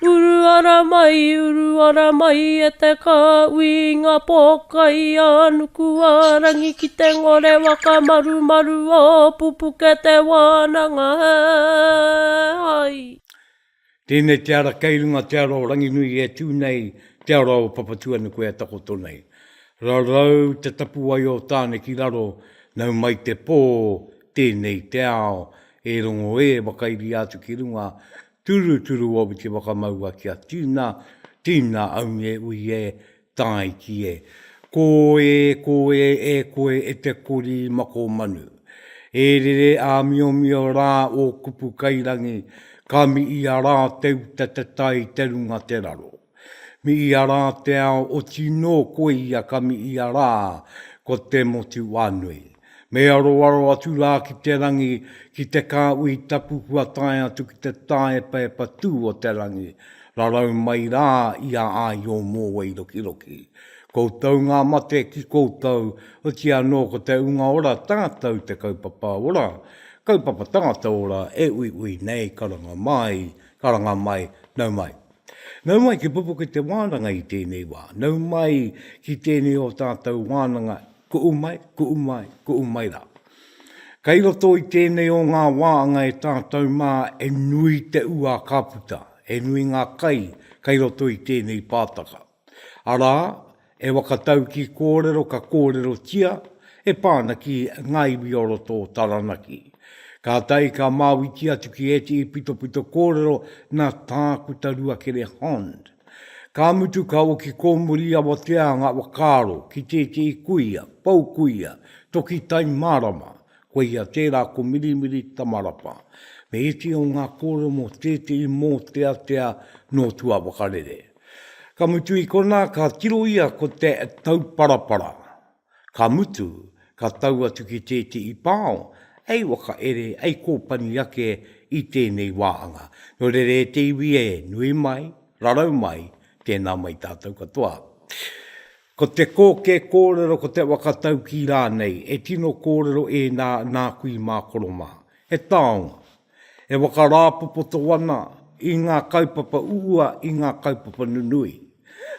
Uru ara mai, uru ara mai e te kāui i ngā pōkai a Nukuārangi ki te ngore whakamarumaru o Pupuke Te Wānanga he hai. Tēnei te ara kei runga te ara o Ranginui e tū nei te ara o Papatuanuku e takoto nei. Rarau te tapuwae o Tāne ki raro, nau mai te pō, tēnei te ao, e rongo ē wakairi atu ki runga, Turuturu o Witi Whakamaua Kia tina, tina aunge ui e, tae ki e. Ko e, ko e, e koe e te kori mako manu. E rere āmiomio rā ō kupu kairangi, ka miia rā te uta te tai te runga te raro. Mi ia ra te ao oti no koe ia ka mi ia ra ko te motu wanui. Me aroaro atu ra ki te rangi, ki te ka ui tapu kua tae atu ki te taepaepa tu o te rangi, rarau mai ra ia ai o Mowai rokiroki. Koutou nga mate ki koutou, otia no ko te unga ora tatou te kaupapa ora, kaupapa tangata ora e uiui nei, karanga mai, karanga mai, nau mai. Nau mai te pupuke te wānanga i tēnei wā. Nau mai ki tēnei o tātou wānanga, kuʻu mai, kuʻu mai, kuʻu mai rā. Kai roto i tēnei o ngā wāanga e tātou mā e nui te ua ka puta, e nui ngā kai kai roto i tēnei pātaka. Arā, e whakataukī kōrero ka kōrerotia e pā ana ki ngā iwi o roto o Taranaki. Kātahi ka māuitia atu ki ētehi pitopito kōrero nā Tākuta Ruakere Hond. Ka mutu ka oki kōmuri awatea ngā whakaaro ki tētehi kuia, pou kuia, toki tai mārama, koia tērā ko Mirimiri Tamarapa, me ētehi o ngā kōrero mō tētehi mōteatea nō tuawhakarere. Ka mutu i konā ka tiro ia ko te tauparapara. Ka mutu, ka tau atu ki tētehi pao, hei whakaere, hei kōpani ake i tēnei wāhanga. Nō reira e te iwi e, nui mai, rarau mai, tēnā mai tātou katoa. Ko te kōkē kōrero, ko te whakataukī rānei, e tino kōrero ēnā nāku i mākoro mā. He taonga, E whakarāpopoto ana i ngā kaupapa uua i ngā kaupapa nunui,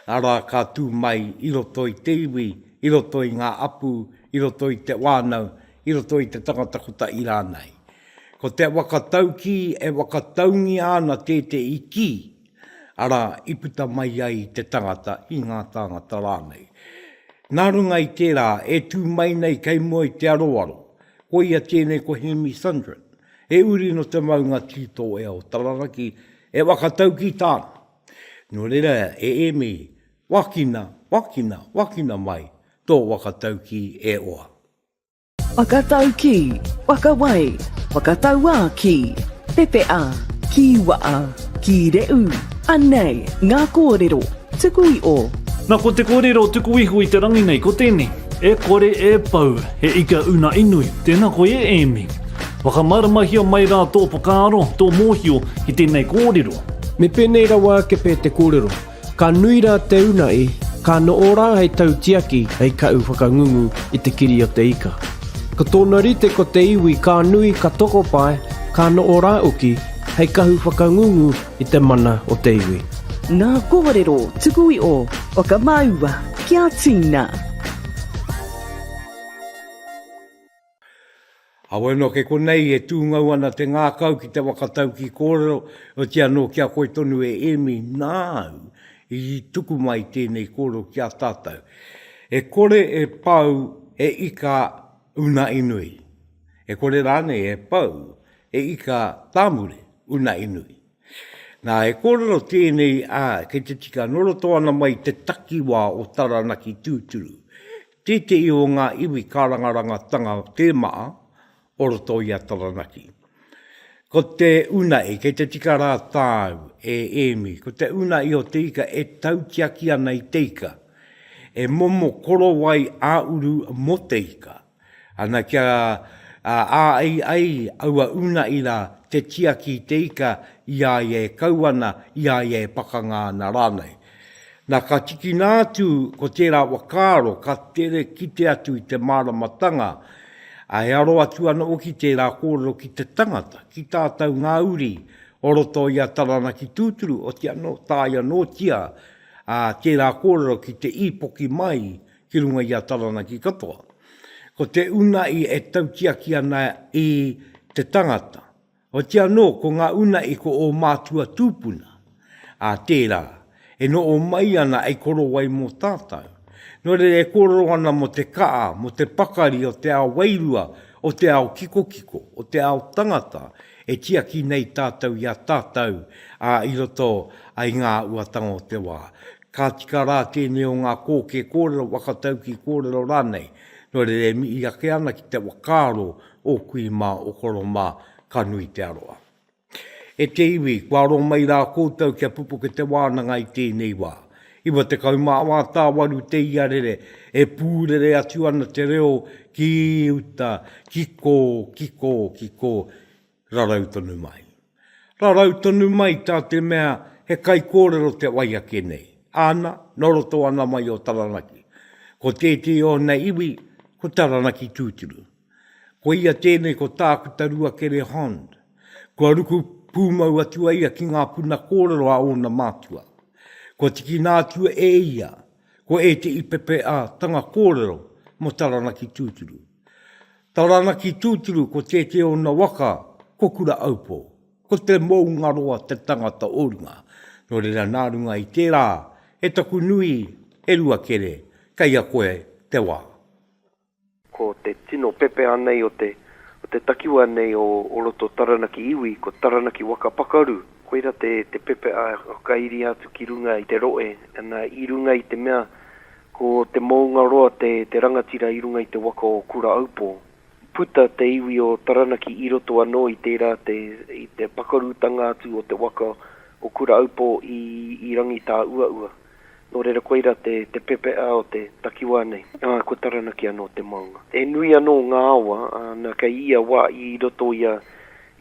arā, ka tū mai i roto i te iwi, i roto i ngā apu, i roto i te whānau, i roto i te tangata kotahi rānei. Ko te whakataukī e whakataungia ana tētehi kī, arā, i puta mai ai te tangata i ngā tāngata rānei. Nā runga i tērā e tū mai nei kei mua i te aroaro, koia tēnei ko Hēmi Sundrin, he uri nō te maunga Tītoea o Tararaki e whakataukī tāna. Nō reira e Ēmi, wākina, wākina, wākina mai tō whakataukī e hoa. Whakataukī, whakawai, whakatauā ki, pepeʻa, kīwaʻa, kīreʻu, anei ngā kōrero tuku i o. Na ko te korero tuku iho i te rangi nei ko tenei, E kore e pau, he ika unaʻi nui, tena koe e Emi. Whakamaramahia mai ra to whakaaro, to mohio ki tenei korero. Me penei rawa ake pe te korero. Ka nui rā te una i, ka noʻo rā hei tautiaki, hei kaʻu whakangungu i te kiri o te ika. Ko tōna rite ko te iwi ka nui, ka tokopae, ka noʻo rā uki, hei kahu whakangungu i te mana o te iwi. Ngā kōrero tuku i ō whakamāua kia tīna. Awe no ke konei e tungau ana te ngakau ki te wakataukī kōrero, otia no ki a koe tonu e Emi nāu i tuku mai tēnei kōrero ki a tātou. E kore e pau e ika una i nui. E kore rānei e pau e ika tāmure una i nui. Nā, e kōrero tēnei, ā, kei te tika noroto ana mai te takiwā o Taranaki tūturu, Tētehi o ngā iwi kārangarangatanga tēmaa o roto i a Taranaki. Ko te unae, kei te tika rā tāu e Ēmi, ko te unae o te ika e tautiaki ana i te ika, e momo korowai ā-uru mō te ika, ana kia āei ai aua unae rā te tiaki i te ika i a ia e kau ana, i a ia e pakanga ana rānei. Nā, ka tikina atu ko tērā whakaaro ka tere kite atu i te māramatanga, ā, e aro atu ana hoki tērā kōrero ki te tangata, ki tā tau ngā uri o roto i a Taranaki tūturu, oti anō, tāia nōtia, ā, tērā kōrero ki te īpoki mai ki runga i a Taranaki katoa. Ko te unahi e tautiaki ana i te tangata, Oti anō, ko ngā una i ko ō mātua tūpuna, ā, tērā, e noho mai ana hei korowai mō tātou. Nō reira e kōrero ana mō te kaha, mō te pakari o te ao wairua, o te ao kikokiko, o te ao tangata, e tiaki nei tātou i a tātou, ā, i roto i ngā āhuatanga o te wā. Ka tika rā tēnei o ngā kōkē kōrero, whakataukī kōrero rānei, nō reira e mihi ake ana ki te whakaaro O kui mā, o koro mā, ka nui te aroha. E te iwi, kua aro mai rā koutou kia pupuke te wānanga i tēnei wā. Iwa tekau mā wā tāwaru te iarere, e pūrere atu ana te reo ki uta, ki kō, ki kō, ki kō, rarau tonu mai. Rarau tonu mai tā te mea he kaikōrero te wai ake nei, āna, nō roto ana mai o Taranaki. Ko tētehi o ōna iwi, ko Taranaki tūturu. Ko ia tēnei ko Tākuta Ruakere Hond. Kua ruku pūmau atu a ia ki ngā puna kōrero a ōna mātua. Kua tikina atu e ia ko ētehi pepeatanga kōrero mō Taranaki tūturu. Taranaki tūturu ko tētehi o ōna waka ko Kura Aupō. Ko Te Moungaroa te tangata o runga. Nō reira nā runga i tērā e taku nui, e Ruakere, kei a koe te wā. Ko te tino pepeha nei o te o te takiwa nei o o roto Taranaki iwi ko Taranaki waka pakaru. Koira te te pepeha e whakairia atu ki runga i te roe ana i runga i te mea ko te moungaroa te te rangatira i runga i te waka o Kuraaupō. Puta te iwi o Taranaki i roto anō i tērā te i te pakarutanga atu o te waka o Kuraaupō i i Rangitāuaua. Nō reira koira te pepeʻa o te takiwā nei, ā, ko Taranaki anō te maunga. He nui anō ngā awa, ā, nā, kei ia wā i roto i a,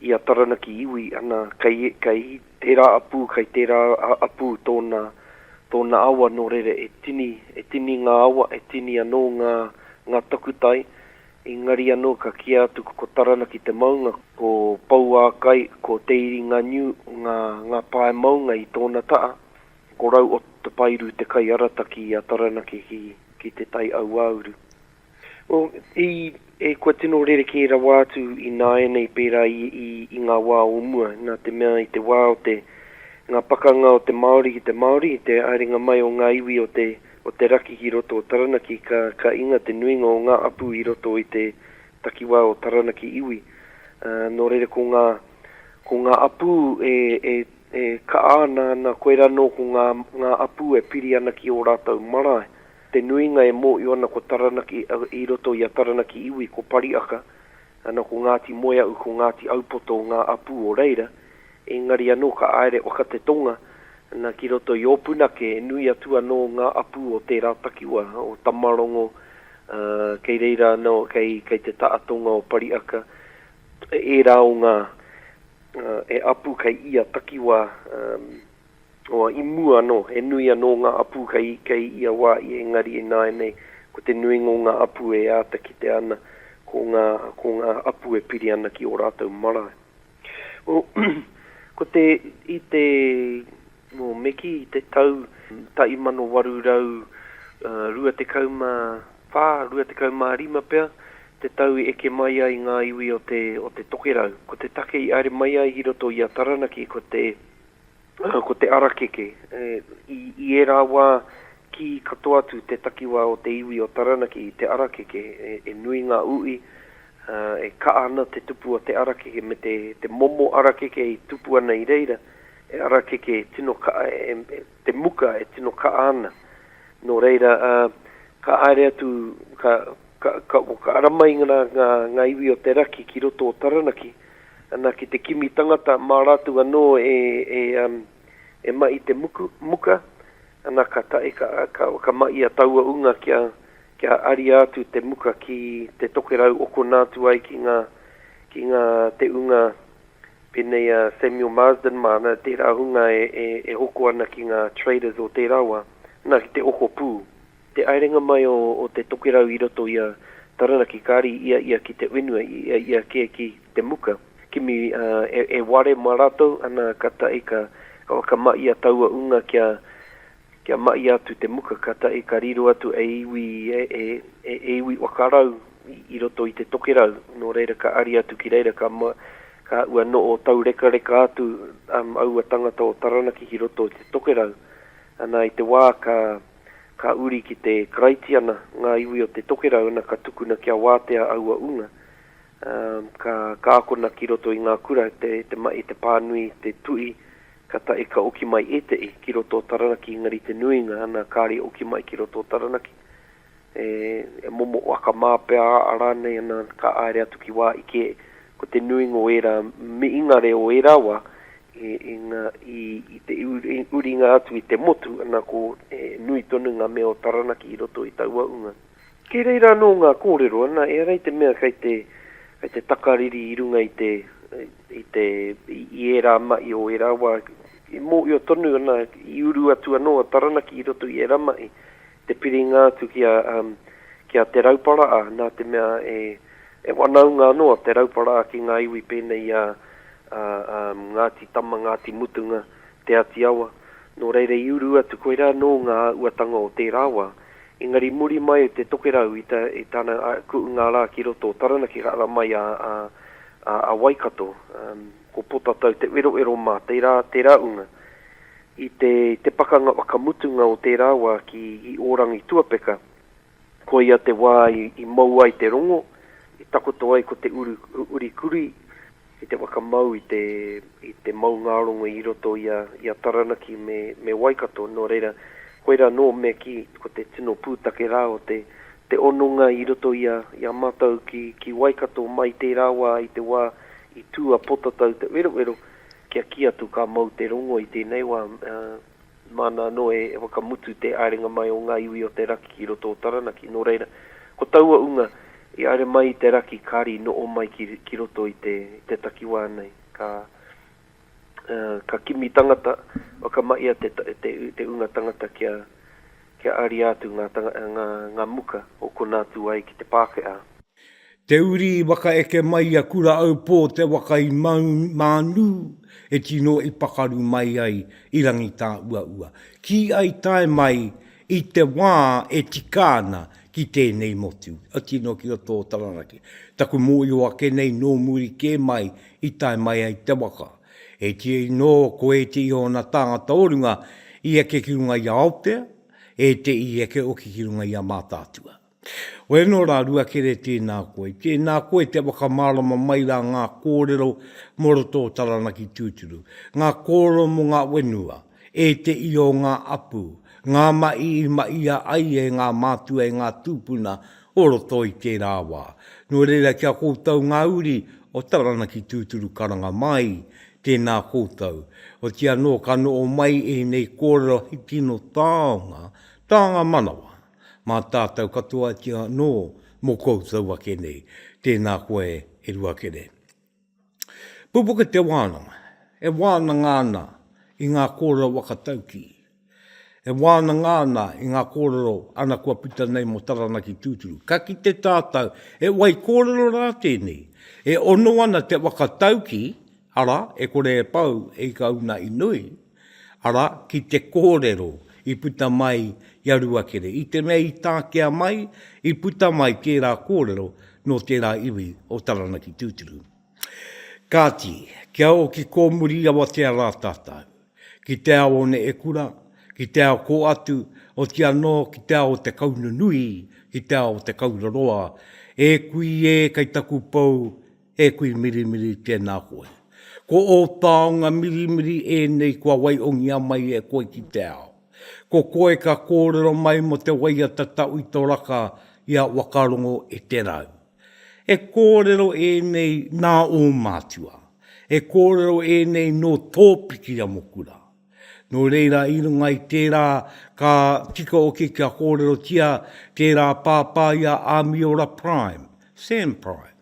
i a Taranaki iwi, ana, kei, kei tērā apū, kei tērā apū tōna, tōna awa, nō reira e tini, e tini ngā awa, e tini anō ngā, ngā takutai, engari anō ka kīa atu ko Taranaki te maunga, ko Pouākai, ko Te Iringāniu ngā, ngā pae maunga i tōna taha, Ko Rau o Te Pairu te kaiarataki i a Taranaki ki Te Tai Auauru. Kua tino rerekē rawa atu ināianei pērā i ngā wā o mua, nā te mea i te wā o te ngā pakanga o te Māori ki te Māori, i te haerenga mai o ngā iwi o te raki ki roto o Taranaki, ka inga te nuinga o ngā apu i roto i te takiwā o Taranaki iwi. Nō reira ko ngā apu e E kaha ana ana koirā nō ko ngā, ngā apū e piri ana ki ō rātou marae. Te nuinga e mōhio ana ko Taranaki, i roto i a Taranaki iwi ko Pariaka, ana ko Ngāti Moeaʻu, ko Ngāti Aupoto ngā apū o reira. Engari anō ka āere waka te tonga, na ki roto i Ōpunake e nui atu anō ngā apū o tērā takiwā, o Tamarongo, ā, kei reira anō, kei, kei te taha tonga o Pariaka, ērā o ngā. E apu kei ia takiwā, oa, i mua anō, he nui anō ngā apu kei, kei ia wā i engari ināianei ko te nuinga o ngā apu e āta kitea ana ko ngā, ko ngā apu e piri ana ki ō rātou marae. O, ko te, i te, o, me kī i te tau 1829 Whā, rua tekau mā rima pea te tau i eke mai ai ngā iwi o te, o te tokerau. Ko te take i aere mai ai i roto i a Taranaki ko te, ko te arakeke. I, i ērā wā kī katoa atu te takiwā o te iwi o Taranaki i te arakeke. E, e nui ngā ui, e kaha ana te tupu o te arakeke me te, te momo arakeke i tupu ana i reira, he arakeke tino kaha e, e, te muka e tino kaa ana, no reira ka aere atu ka ara mai nga iwi o te raki ki roto o Taranaki, ana ki te kimi tangata ma ratu ano e ma i te muka, ana ka tae ka ma i a taua unga kia aria atu te muka ki te tokerau okona atu ai ki nga te unga Pēnei a Samuel Marsden māna, tērā hunga e hoko ana ki ngā traders o tērā wā, nā, ki te okopū. Te aerenga mai o te tokerau i roto i a Taranaki kāri i a ia ki te whenua, i a ia kē ki te muka. Kimi e ware mā rātou, ana ka tae ka whakamahia taua ūnga kia Kia mahi atu te muka ka tahi ka riro atu e iwi, e iwi waka rau i roto i te tokerau, nō reira ka ari atu ki reira ka ka ua noo taurekareka atu aua tangata o Taranaki ki roto i te tokerau, ana i te wā ka ka uri ki te Karaitiana ngā iwi o te tokerau ana ka tukuna kia wātea aua unga, Ka, ka akona ki roto i ngā kura te, te mahi, te pānui, te tuhi, kātahi ka oki mai ētehi ki roto o Taranaki engari te nuinga nā kāre oki mai ki roto o Taranaki e, e momo akamā pea a rānei ana ka āere atu ki wā ike ko te nuinga o ērā mihingare o ērā wā i, i ngā, i, i te uringa atu i te motu ana ko e, nui tonu ngā mea o Taranaki i roto i taua unga. Kei reira anō ngā kōrero, ana, ehara i te mea kei te, kei te takariri i runga i te, i te, i ērā mahi o ērā wā, i mōhio tonu, ana, i uru atu anō a Taranaki i roto i ērā mahi, te piringa atu ki a, ki a Te Rauparaā, nā te mea e, e wanaunga anō a Te Rauparaā ki ngā iwi pēnei i a, a, a Ngāti Tama, Ngāti Mutunga, Te Ati Awa, nō reira i uru atu koirā nō ngā uatanga o tērā wā, engari muri mai o te tokerau i tana kuʻunga rā ki roto o Taranaki ka ara mai a Waikato, ko Potatau te weroero mā tērā unga. I te pakanga whakamutunga o tērā wā ki Ōrangituapeka, Koia te wā i mou ai te rongo, i takoto ai ko te uri kurī ki te whakamau i te maungārongo i roto i a Taranaki me Waikato, nō reira, koirā nō mea kī, ko te tino pūtake rā o te hononga i roto i a mātou ki Waikato mai tērā wā i te wā i tū a Potatau te werowero kia kī atu ka mou te rongo i tēnei wā. Māna anō e whakamutu te aerenga mai o ngā iwi o te raki ki roto o Taranaki, nō reira, ko taua unga i haere mai i te raki kāre i noho mai ki ki roto i te i te takiwā nei. Ka ka kimi tangata whakamahia te te te unga tangata kia kia aria atu ngā ngā ngā muka o konā tū ai ki te Pākehā. Te uri i wakaeke mai i a Kura-aupō te waka i Mānū e tino i pakaru mai ai i Rangitāuaua, kī ai tae mai i te wā e tika ana ki tēnei motu, otirā nō ki roto o Taranaki. Taku mōhio ake nei nō muri kē mai i tae mai ai te waka. E ti ai nō ko ētehi o ana tāngata o runga i eke ki runga i a Aotea, ētehi i eke hoki ki runga i a Mātaatua. Wai anō rā Ruakere tēnā koe, tēnā koe te whakamārama mai rā ngā kōrero mō roto o Taranaki tūturu, ngā kōrero mō ngā whenua, ēteʻi o ngā apu, ngā maʻi i maʻia ai e ngā mātua e ngā tūpuna o roto i tērā wā. Nō reira ki a koutou ngā uri o Taranaki tūturu karanga māi, tēnā koutou. Otiia nō ka noho mai ēnei kōrero hei tino taonga, taonga manawa. Mā tātou katoa iti anō mō koutou ake nei, tēnā koe e Ruakere. Pupuke te wānanga, e wānanga ana i ngā kōrero waka taukī, e wānanga ana i ngā kōrero ana kua puta nei mō Taranaki tūturu. Ka kite tātou, he wai kōrero rā tēnei, e ono ana te waka taukī, arā, e kore e pau, e ika una i nui, Arā, ki te kōrero i puta mai i a Ruakere. I te mea i takea mai, i puta mai tērā kōrero nō tērā iwi o Taranaki tūturu. Kāti, kia oki kōmuri i awatea rā tātou, ki te ao o Neekura, ki te ao kō atu, oti anō ki te ao o Te Kaununui, ki te ao o Te Kauraroa, E kui e, kei taku pou, He kui mirimiri tēnā koe. Ko ō taonga mirimiri ēnei kua waiongia mai e koe ki te ao. Ko koe ka kōrero mai mō te waiata Tauitoraka i a Wakarongo e Te Rau. He kōrero ēnei nā ō mātua. He kōrero ēnei nō tō pikiamokura. Nō reira i runga i tērā ka tika hoki kia kōrerotia tērā pāpā i a Āmiora Prime, Sam Prime.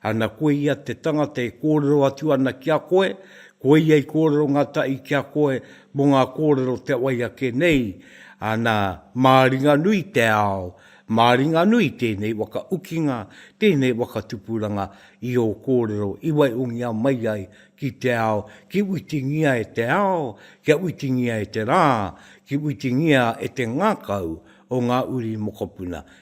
Ana koe ia te tangata e kōrero atu ana ki a koe, ko ia i kōrero ngātahi ki a koe mō ngā kōrero te wai ake nei, ana, māringanui te ao, māringanui tēnei waka ukinga, tēnei waka tupuranga i ō kōrero i waihongia mai ai ki te ao, ki whitingia e te ao, kia whitingia e te rā, ki whitingia e te ngākau o ngā uri mokopuna.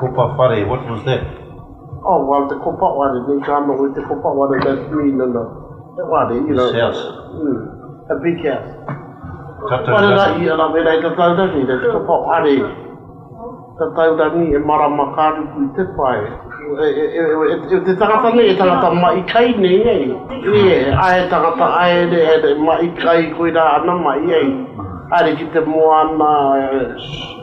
Kopa whare, what was that? Oh, well, te kopa ware, nei ka noho i te kopa ware, that mean in a, he ware, you know. His house. Mm, a big house. Tatau Ware rangi. rangi, ara wera i tatau rangi, nei te kopa ware, tatau rangi e marama ka ruku i te pae. E, e, e, e, e, te tangata nei, e tangata maʻi kai nei, ei. Yeah, ai he tangata, ai he re, he re, maʻi kai, koirā ana maʻi, ei. Haere ki te moana, e,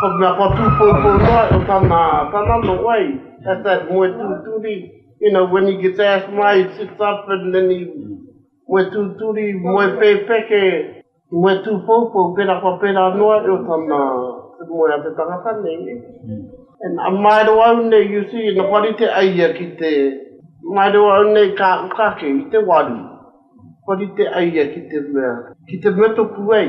Ko te mea kua tūpoupou noa e tana tana no wai, at that moe tūturi, you know, when he gets asthma he sits up and then he moe tūturi, moe pēpeke, moe tūpoupou, pērā kua pērā noa e o tana te moe a te tangata nei. And a maero au nei, you see, na kua rite ai ia ki te, maero au nei ka aku ka kei i te waru, kua rite ai ia ki te mea, ki te mea toku wei.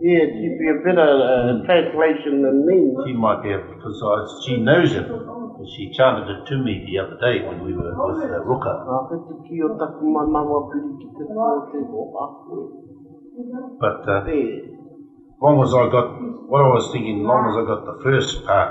Yeah, she'd be a better uh, translation than me. She might be a precise. She knows him. She chanted it to me the other day when we were with uh, Ruka. Nā te tiki o taku manawa piri ki te tō te oha koe. But uh, Te long as I got what I was thinking, long as I got the first part,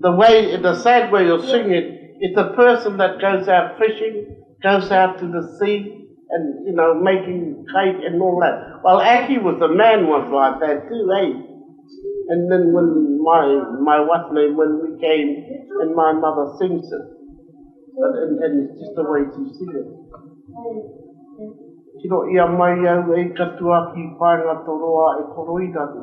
the way in a sad way of singing it's a person that goes out fishing goes out to the sea and you know making kai and all that well Aki was a man was like that too eh and then when my my what's name when we came and my mother sings it and, and, and it's just the way she sings it Tiro ia mai au ei katoa ki paenga toroa e koroirani.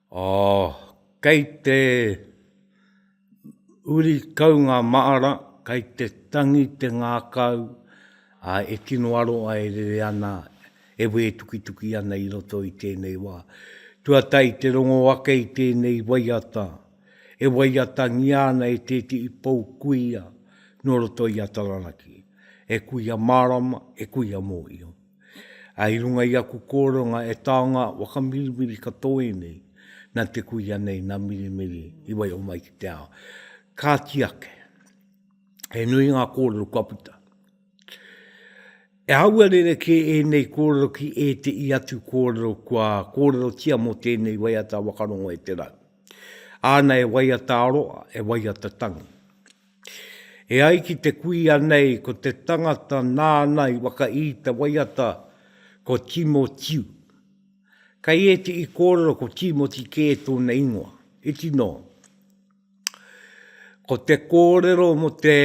Oh, kei te uri kau ngā māra, kei te tangi te ngākau, ā, e tino aroha e rere ana, e wētukituki ana i roto i tēnei wā. Tuatahi i te rongo ake i tēnei waiata, e waiatangia ana e tētehi pou kuia nō roto i a Taranaki, e kuia mārama, e kuia mōhio. I runga i aku kōranga e taonga whakamiriwiri katoe nei, nā te kuia nei, nā Mirimiri, i waiho mai ki te ao. Kāti ake, he nui ngā kōrero kua puta. E aua rere kē ēnei kōrero ki e te i atu kōrero kua kōrerotia mō tēnei waiata wakarongo e te rau. Āna e waiata aroa, e waiata tangi. E ai ki te kuia nei ko te tangata nāna i whakaī te waiata ko Timotiu. Kei ēti i kōrero ko Timoti kē tōna ingoa, iti nō. Ko te kōrero mo te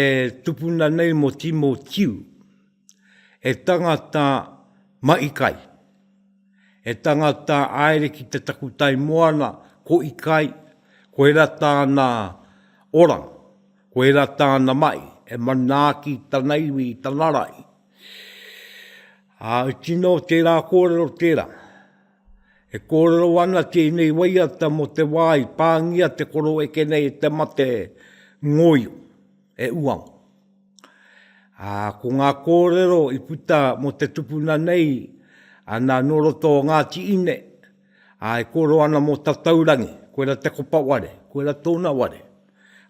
tupuna nei mo Timotiu, He tangata mahi kai. He tangata aere ki te takutai moana, ko i kai, koera tāna oranga, koera tāna mahi, e manaaki tana iwi i tana rahi. Ā, i tino tērā kōrero tērā. E kōrero ana tēnei waiata mō te wā i pāngia te koroeke nei e te mate ngoio, e uanga. Ā, ko ngā kōrero i puta mō te tupuna nei, ana nō roto o Ngāti Ine, ā, e kōrero ana mō Tataurangi, koira te kopa ware, koira tōna ware,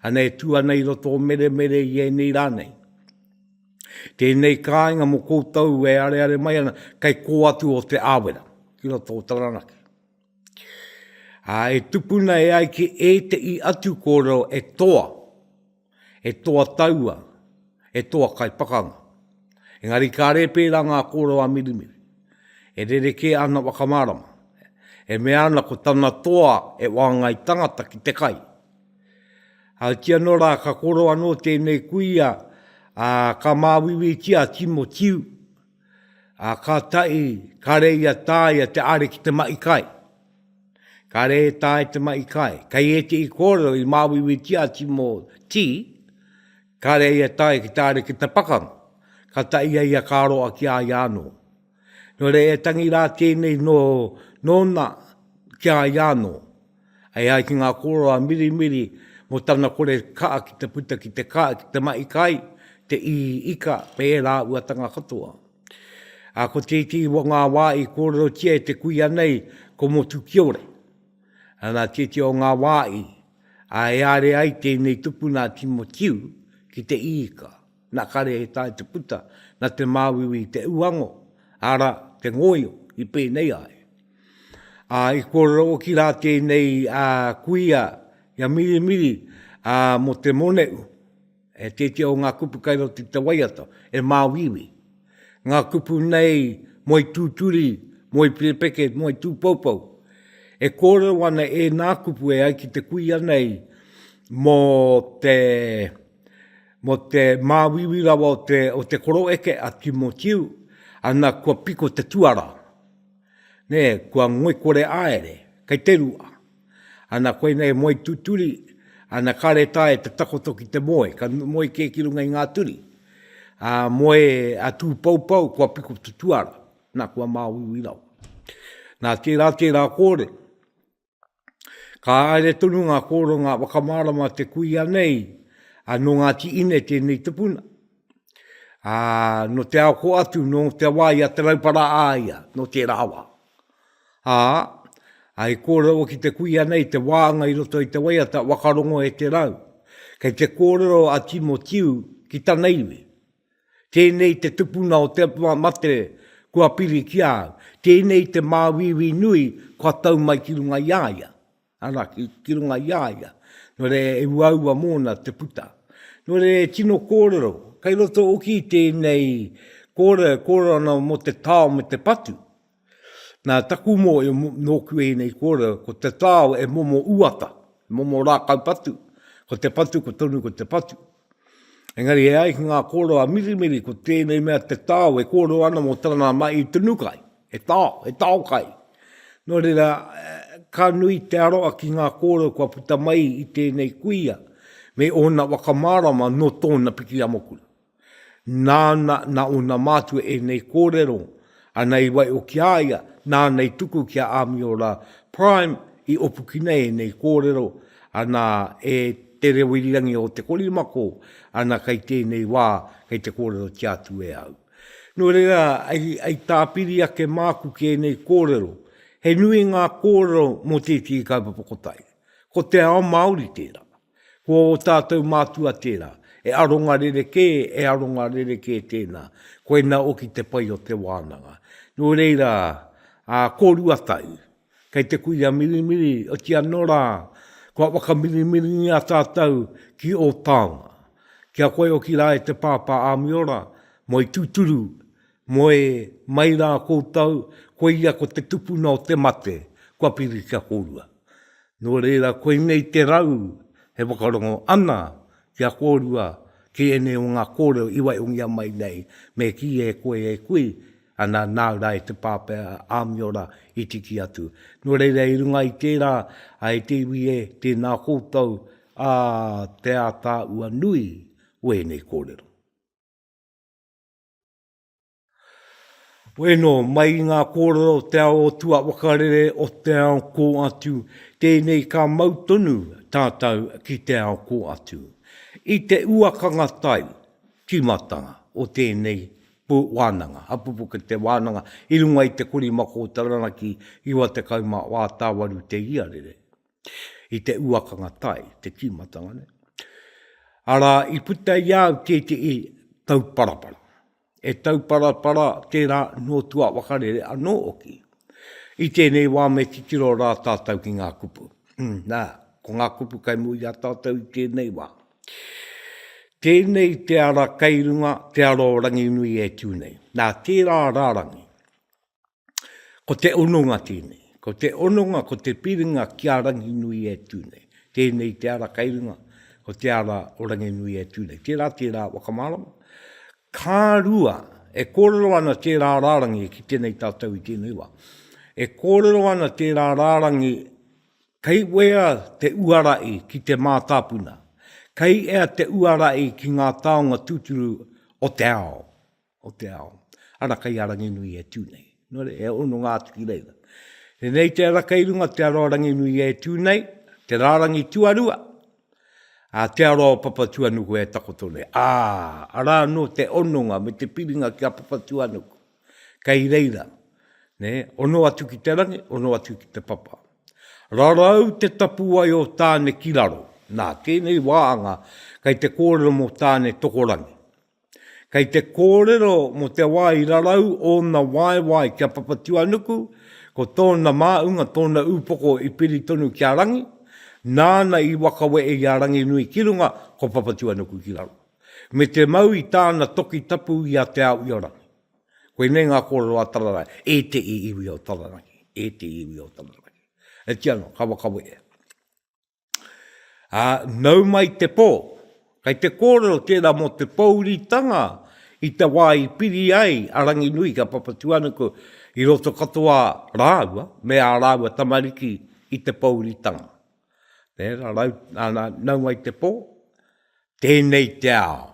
ana e tū ana i roto o Meremere i ēnei rā nei. Tēnei kāinga mō koutou e areare mai ana, kei kō atu o Te Awera, ki roto o Taranaki. Ā, e tupuna e ai ki ētehi atu kōrero e toa, He toa taua, he toa kaipakanga. Engari kāre pērā ngā kōrero a Mirimiri. E rerekē ana whakamārama. E mea ana ko tana toa e wāngai tangata ki te kai. Ahatia anō rā ka kōrero anō tēnei kuia ka māuiuitia a Timo Tiu. A ka tahi, ka re ia taia te are ki te mahi kai. Ka re e tae te mahi kai. Kei e te i kōrero i māwiwi ti ati mō ti, ka re ia tae ki te are ki te pakanga. Ka tahi ia ia ka roa ki a ia anō. Nō reira e tangi rā tēnei nō nōna ki a ia anō. Hei ai ki ngā kōrero a Mirimiri, mō tana kore kaa ki te puta ki te kaa, ki te mahi kai, te ii ika, me ērā uatanga katoa. Ā, ko tētehi o ngā wā i kōrerotia e te kuia nei, ko Motukiore. Nā tētehi o ngā wā i, ā, e aare ai tēnei tupuna a Timotiu ki te ii ika. Na kare he tae te puta, na te māuiui te uango, ara, te ngoio, i pēnei ai. A i kōrero oki rā tēnei a kuia i a Mirimiri a mo te moneu, e tētea o ngā kupu kai roto i te waiata, e māuiui. Ngā kupu nei moe tūturi, moe pirepeke, moe tūpoupou. E kōrero ana ēnā kupu e ai ki te kuia nei mo te. Mo te māuiui rawa o te, o te koro eke a Timotiu, ana kua piko te tuara, ne, kua ngoikore aere, kei te rua. Ana koinei moe tuturi, ana kare tae te takoto ki te moe, ka moe ke ki runga i ngā turi. A moe a Tūpoupou, kua piko te tuara, na kua māuiui rawa. Na tērā, tērā kōrero. Ka haere tonu ngā kōranga whakamārama te kuia nei, ā, nō Ngāti Ine tēnei tupuna. Ā, nō te ao kō atu, nō te wā i a Te Raupara a ia, nō tērā wā. Ā, ā, i kōrero ki te kuia nei te wānga i roto i te waiata, wakarongo e te rau. Kei te kōrero a Timotiu ki tana iwi, Tēnei te tupuna o te atua mate kua piri ki a au. Tēnei te māuiui nui kua tau mai ki runga i a ia. Arā, ki, ki runga i a ia. Nō reira, e uaua mōna te puta. Nō reira, e tino kōrero, kei roto hoki i tēnei kōrero, e kōrero ana mō te tao me te patu. Nā taku mōhio nōku ēnei kōrero, ko te tao e momo uata, e momo rākau patu, ko te patu ko tonu ko te patu. Engari e ai ki ngā kōrero a Mirimiri, ko tēnei mea te tao e kōrero ana mō tana mahi tunu kai, he tao, he tao kai. Nō reira, ka nui te aroha ki ngā kōrero kua puta mai i tēnei kuia me ōna whakamārama nō tōna piki amokura. Nāna, nā ōna mātua ēnei kōrero, ana i waio ki a ia, nāna i tuku ki a Āmiora Prime i opukina ēnei kōrero, ana e Te Reo Irirangi o Te Korimako, ana kei tēnei wā, kei te kōrerotia atu e au. Nō reira, i tāpiri ake māku ki ēnei kōrero, he nui ngā kōrero mō tētehi kaupapa kotahi. Ko te ao Māori tērā. Ko ō tātou mātua tērā. He aronga rerekē, he aronga rerekē tēnā. Koinā oki te pai o te wānanga. Nō reira, ā, kōrua tau, kei te kuia mirimiri, otiia nō rā, kua whakamirimiringia tātou ki ō taonga. Ki a koe oki rā e te Pāpā Āmiora, moe tūturu, Moe mai rā koutou, koia ko te tupuna o te mate, kua piri kia kōrua. Nō reira, koinei te rau e whakarongo ana kia kōrua ki ēnei o ngā kōrero i waihongia mai nei, me kī e koe e kui ana nā rā e te pāpā Āmiora i tiki atu. Nō reira, i runga i tērā, e te iwi e, tēnā koutou, ā, te ātaahua nui o ēnei kōrero. Bueno, mai i ngā kōrero o te ao o tua wakarere o te ao kō atu, tēnei ka mau tonu tātou ki te ao kō atu. I te uakanga tai, tīmatanga, o tēnei wānanga, hapupuke te wānanga i runga i te korimako o Taranaki 98 te iarere. i te uakanga tai, te tīmatanga nei. Arā, i puta i a au tētehi tauparapara. E tauparapara tērā nō tua wakarere anō hoki. I tēnei wā me titiro rā tātou ki ngā kupu. Hmm, nā, ko ngā kupu kai mua i a tātou i tēnei wā. Tēnei te ara kei runga, te ara o Ranginui e tū nei. Nā, tērā rārangi. Ko te hononga tēnei. Ko te hononga, ko te piringa ki a Ranginui e tū nei. Tēnei te ara kei runga, ko te ara o Ranginui e tū nei. Tērā, tērā whakamārama. Ka rua, e kōrero ana tērā rārangi ki tēnei tātou i tēnei wā. E kōrero ana tērā rārangi kei wea te uarai ki te mātāpuna, kei ea te uarai ki ngā taonga tūturu o te ao. o te ao, ara kei a Ranginui e tū nei. Nō reira, e hononga atu ki reira. Tēnei te ara kei runga te aroa Ranginui e tū nei, te rārangi tuarua, ā, te aroa o Papatuanuku e takoto nei. Ā, arā anō te hononga me te piringa ki a Papatuanuku. Kei reira, nē, hono atu ki te rangi, hono atu ki te papa. Rarau te tapuwae o Tāne ki raro. Nā, tēnei wāhanga, kei te kōrero mō Tāne tokorangi. Kei te kōrero mō te wā i rarau ōna waewae ki a Papatūānuku, ko tōna māunga, tōna ūpoko i piri tonu ki a Rangi, nāna i wakawe e i a Ranginui ki runga, ko Papatūānuku ki raro. Me te mau i tāna toki tapu i a Te Ao-i-o-Rangi. Koinei ngā kōrero a Tararangi, e te i iwi o Tararangi, e te iwi o Tararangi. Hetia anō, ka wakawe e. Ā, nau mai te pō. Kei te kōrero tērā mō te pōuritanga i te wā i piri ai a Ranginui ki a Papatūānuku i roto katoa rāua me ā rāua tamariki i te pōuritanga. Tērā, nau mai te pō. Tēnei te ao.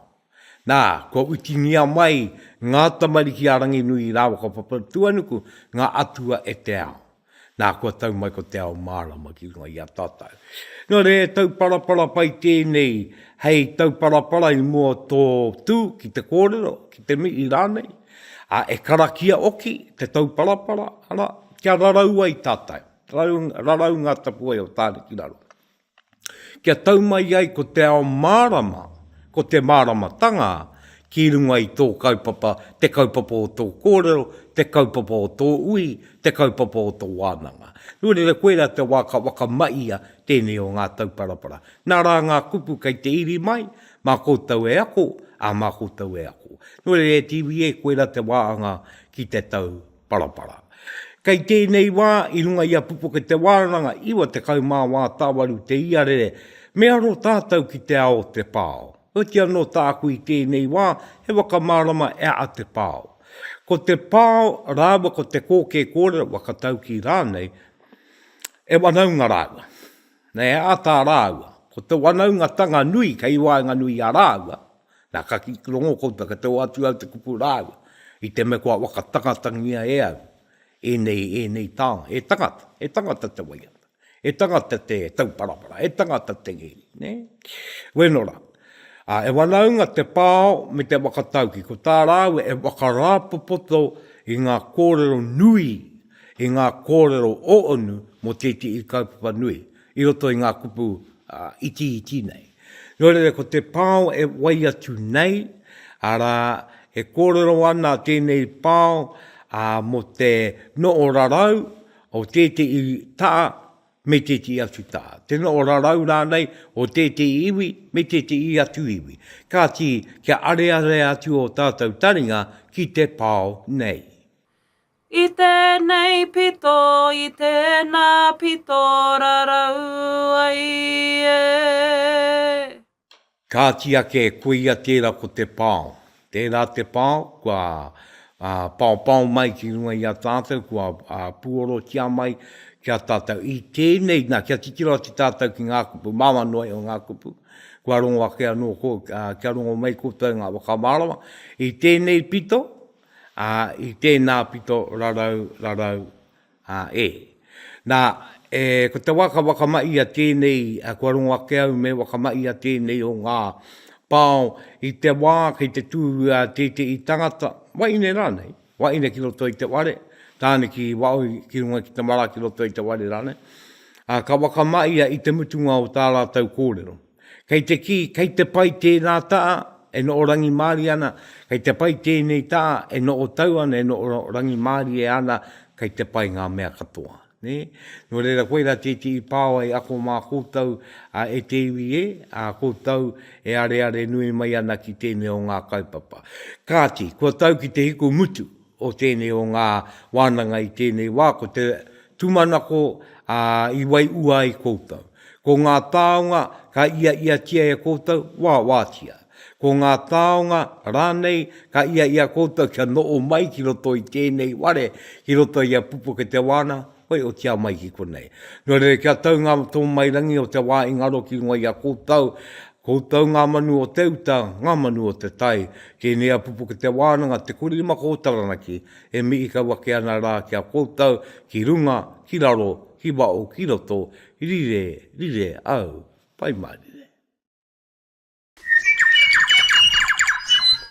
Nā, kua whitingia mai ngā tamariki a Ranginui rāua ko Papatūānuku, ngā atua e te ao. Nā, kua tau mai ko te ao mārama ki runga i a tātou. Nō reira he tauparapara pai tēnei hei tauparapara i mua o tō tū ki te kōrero, ki te mihi rānei, ā, e karakia hoki te tauparapara, arā, kia rarau ai tātou, rarau ngā tapuwae o Tāne ki raro. kia tau mai ai ko te ao mārama, ko te māramatanga ki runga i tō kaupapa, te kaupapa o tō kōrero, te kaupapa o tō ui, te kaupapa o tō wānanga. Nō reira, koirā te wā ka whakamahia tēnei o ngā tauparapara. Nā rā ngā kupu kei te iri mai, mā koutou e ako, ā, mā koutou e ako. Nō reira, e TV e, koirā te wā anga ki te tau. Parapara. Kei tēnei wā, i runga i a Pupuke Te Wānanga, 98 tāwaru te iarere, me aro tātou ki te ao o te pao. Heoti anō tāku i tēnei wā, he whakamārama e a Te Pao. Ko te pao rāua ko te kōkē kōrero, whakataukī rānei, e wanaunga rāua. Nei he āta rāua. Ko te wanaungatanga nui kei waenganui i a rāua, Na ka kiki rongo koutou ka tau atu au te kupu raua i te me kua wakatangatangia e au enei enei taonga he tangata he tangata te waiata he tangata te tauparapara he tangata te ngeri ne weno ra a e wanaunga te pao me te wakatauki ko ta raua e wakarapopoto i nga korero nui i nga korero oonu mo tetihi kaupapa nui I roto i ngā kupu itiiti nei. Nō reira, ko te pao e wai atu nei, arā, e kōrero ana tēnei pao mō te noho rarau o tētehi taha me tētehi atu taha, te noho rarau rānei o tētehi iwi me tētehi atu iwi. Kāti, kia arearea atu ō tātou taringa ki te pao nei. I tēnei pito, i tēnā pito rarau ai e. Kāti ake, koia tērā ko te pao. Tērā te pao, kua paopao mai ki runga i a tātou, kua puorotia mai ki a tātou. I tēnei, nā, kia titiro atu tātou ki ngā kupu māmanoe o ngā kupu, kua rongo ake anō, kia rongo mai koutou i ngā whakamārama. I tēnei pito, Ā, i tēnā pito rarau, rarau, ā, e. Nā, e, ko te wā ka whakamahi a tēnei, ā, kua rongo ake au me whakamahi a tēnei o ngā pao i te wā kei te tūhura tētehi tangata, wahine rānei, wahine ki roto i te whare, tāne ki Waoi ki runga ki te mara ki roto i te whare rānei, ā, ka whakamahia i te mutunga o tā rātou kōrero. Kei te kī, kei te pai tēnā taha e noho rangimārie ana, kei te pai tēnei taha e noho tau ana, e noho rangimārie ana, kei te pai ngā mea katoa. Nē? Nō reira, koirā tētehi pāoa e ako mā koutou, ā, e te iwi e, ā, koutou e areare nui mai ana ki tēnei o ngā kaupapa. Kāti, kua tau ki te hiku mutu. o tēnei o ngā wānanga i tēnei wā, ko te tūmanako i waiua ai koutou. Ko ngā taonga ka iaiatia e koutou, wāwātia. Ko ngā taonga rānei ka iaia koutou kia noho mai ki roto i tēnei ware, ki roto i a Pupuketewāna, hoi otia mai ki konei. Nō reira kia tau ngā tōmairangi o te wā i ngaro ki runga i a koutou, Koutou ngā manu o te uta, ngā manu o te tai, tēnei a Pupuke Te Wānanga, Te Kori Lima Kō Taranaki, e mihi kau ake ana rā ki a koutou, ki runga, ki raro, ki waho, ki roto, rire, rire au, Pai mārire.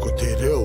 Ko te reo.